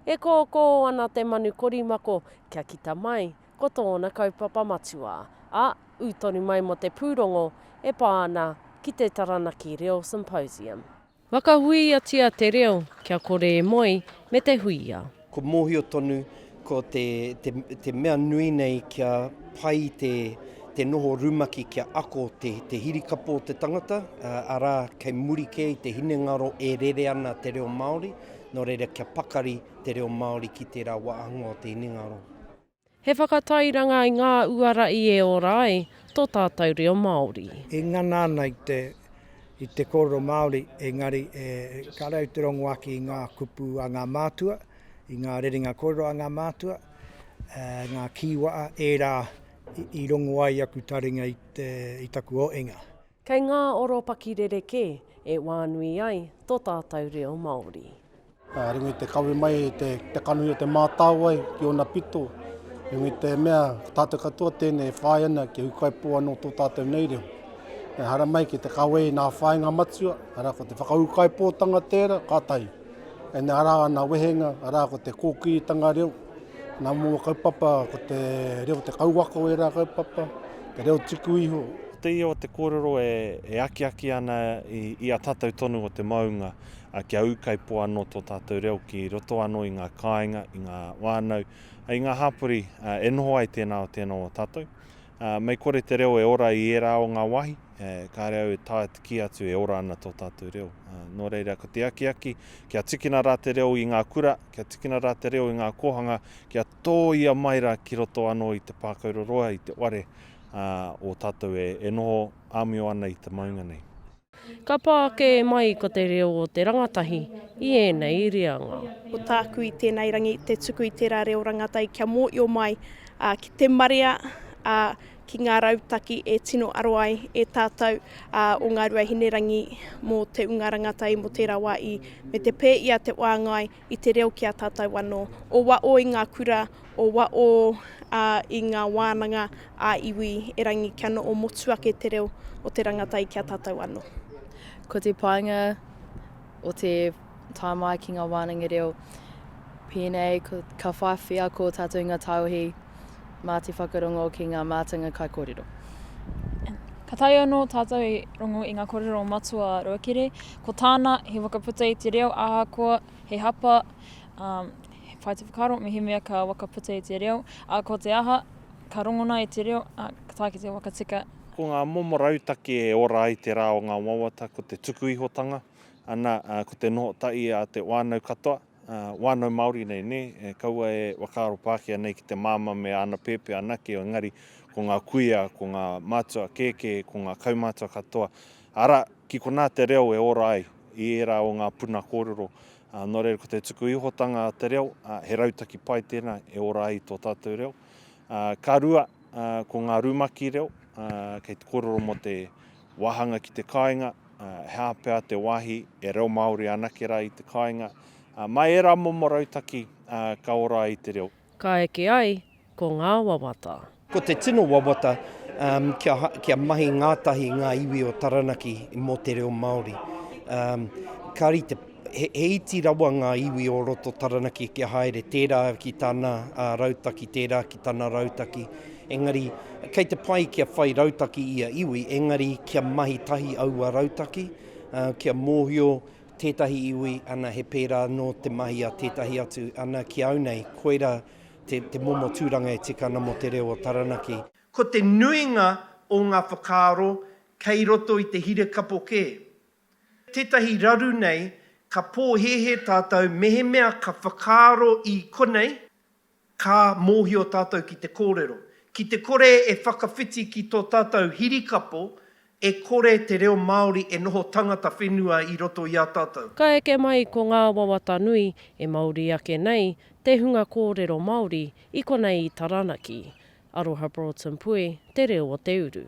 E kōkō ana te manu korimako kia kita mai ko tōna kaupapa matua, a, ū tonu mai mō te pūrongo e pā ana ki te Taranaki Reo Symposium. Whakahuiatia te reo kia kore e moe me te huia. Kua mōhio tonu ko te te mea nui nei kia pai te te noho rumaki kia ako te te hirikapo o te tangata, arā, kei muri kē i te hinengaro e rere ana te reo Māori, nō reira kia pakari te reo Māori ki tērā wāhanga o te hinengaro. He whakatairanga i ngā uara i e ora ai tō tātou reo Māori. I ngana ana i te, i te kōrero Māori, engari e, kāre au te rongo ake i ngā kupu a ngā mātua, i ngā rerenga kōrero a ngā mātua, ā, ngā kīwa'a, ērā i, i rongo ai aku taringa i te, i taku oenga. Kei ngā oropaki rerekē e wānui ai tō tātou reo Māori. Ka ringi te kawe mai i te kanohi o Te Mātāwai ki ōna pito, ringi i te mea ko tātou katoa tēnei e whāia ana kia ūkaipō anō tō tātou nei reo. Ehara mai ki te kawe i ngā whāinga matua, arā ko te whakaūkaipōtanga tērā, ka tahi. Ēnei arā ana wehenga, arā ko te kōkiritanga reo, ngā momo kaupapa ko te reo te kauwaka o ērā kaupapa, te reo tuku iho, Ko te ia o te kōrero e akiaki ana i a tātou tonu o te maunga. a kia ūkaipō anō tō tātou reo ki roto anō i ngā kāinga, i ngā whānau, i ngā hapori e noho ai tēnā o tēnā o tātou. Mei kore te reo e ora i ērā o ngā wāhi, kāre au e taea te kī atu e ora ana tō tātou reo. Nō reira, ko te akiaki, kia tikina rā te reo i ngā kura, kia tikina rā te reo i ngā kōhanga, kia tōia mai rā ki roto anō i te pākau roroa, i te ware o tātou e noho āmio ana i te maunga nei. Ka pā kē mai ko te reo o te rangatahi i ēnei reanga. Ko tāku i tēnei rangi te tuku i tērā reo rangatai kia mōio mai ki te marea, ki ngā rautaki e tino aro ai e tātou o Ngāruahinerangi mō te unga rangatai mō tērā wā i me te pē i a Te Wāngai. i te reo ki a tātou anō, o waʻo i ngā kura, o waʻo i ngā wānanga ā iwi, erangi kia noʻo motu ake te reo o te rangatau ki a tātou anō. Ko te painga o te tā mai ki ngā wānanga reo, pēnei ka whai wheako tātou i ngā tāohi, mā te whakarongo ki ngā mātanga kaikōrero. Ka taea anō tātou e rongo i ngā kōrero o Matua Ruakere, ko tāna he whakaputa i te reo ahakoa he hapa, um, whai te whakaro mehemea ka whakaputa i te reo, a ko te aha, ka rongona i te reo, a ka tae ki te wakatika. Ko ngā momo rautaki e ora ai te rā o ngā wawata ko te tukuihotanga, ana, ko te noho tahi a te whānau katoa. wānau Māori nei, nē? Kaua e whakaaro Pākehā nei ki te māmā me āna pēpē anake, engari ko ngā kuia, ko ngā mātua kēkē, ko ngā kaumātua katoa, arā, ki konā te reo e ora ai i ērā o ngā puna kōrero. Nō reira, ko te tuku ihotanga a te reo, he rautaki pai tēnā e ora ai tō tātou reo. Ka rua, ko ngā rumaki reo, kei te kōrero mō te Wāhanga ki te kāinga, he aha pea te wāhi e reo Māori anake rā i te kāinga, mai ērā momo rautaki ka ora ai te reo. Ka eke ai ko ngā wawata. Ko te tino wawata, kia mahi ngātahi ngā iwi o Taranaki mō te reo Māori. Ka rite. He, he iti rawa ngā iwi o roto Taranaki kia haere, tērā ki tana uh, rautaki, tērā ki tana rautaki. Engari, kei te pai kia whai rautaki ia iwi, engari kia mahi tahi aua rautaki, uh, kia mōhio tētahi iwi, ana he pērā nō te mahi a tētahi atu, ana ki au nei, koira te, te momo tūranga e tika ana mō te reo o Taranaki. Ko te nuinga o ngā whakaaro kei roto i te hirekapo kē. tētahi raru nei ka pōhēhē tātou mehemea ka whakaaro i konei, ka mōhio tātou ki te kōrero. Ki te kore e whakawhiti ki tō tātou hirikapo, e kore te reo Māori e noho tangata whenua i roto i a tātou. Ka eke mai ko ngā wawata nui e Māori ake nei te hunga kōrero Māori i konei i Taranaki. Aroha Broughton Pue, Te Reo o Te Uru.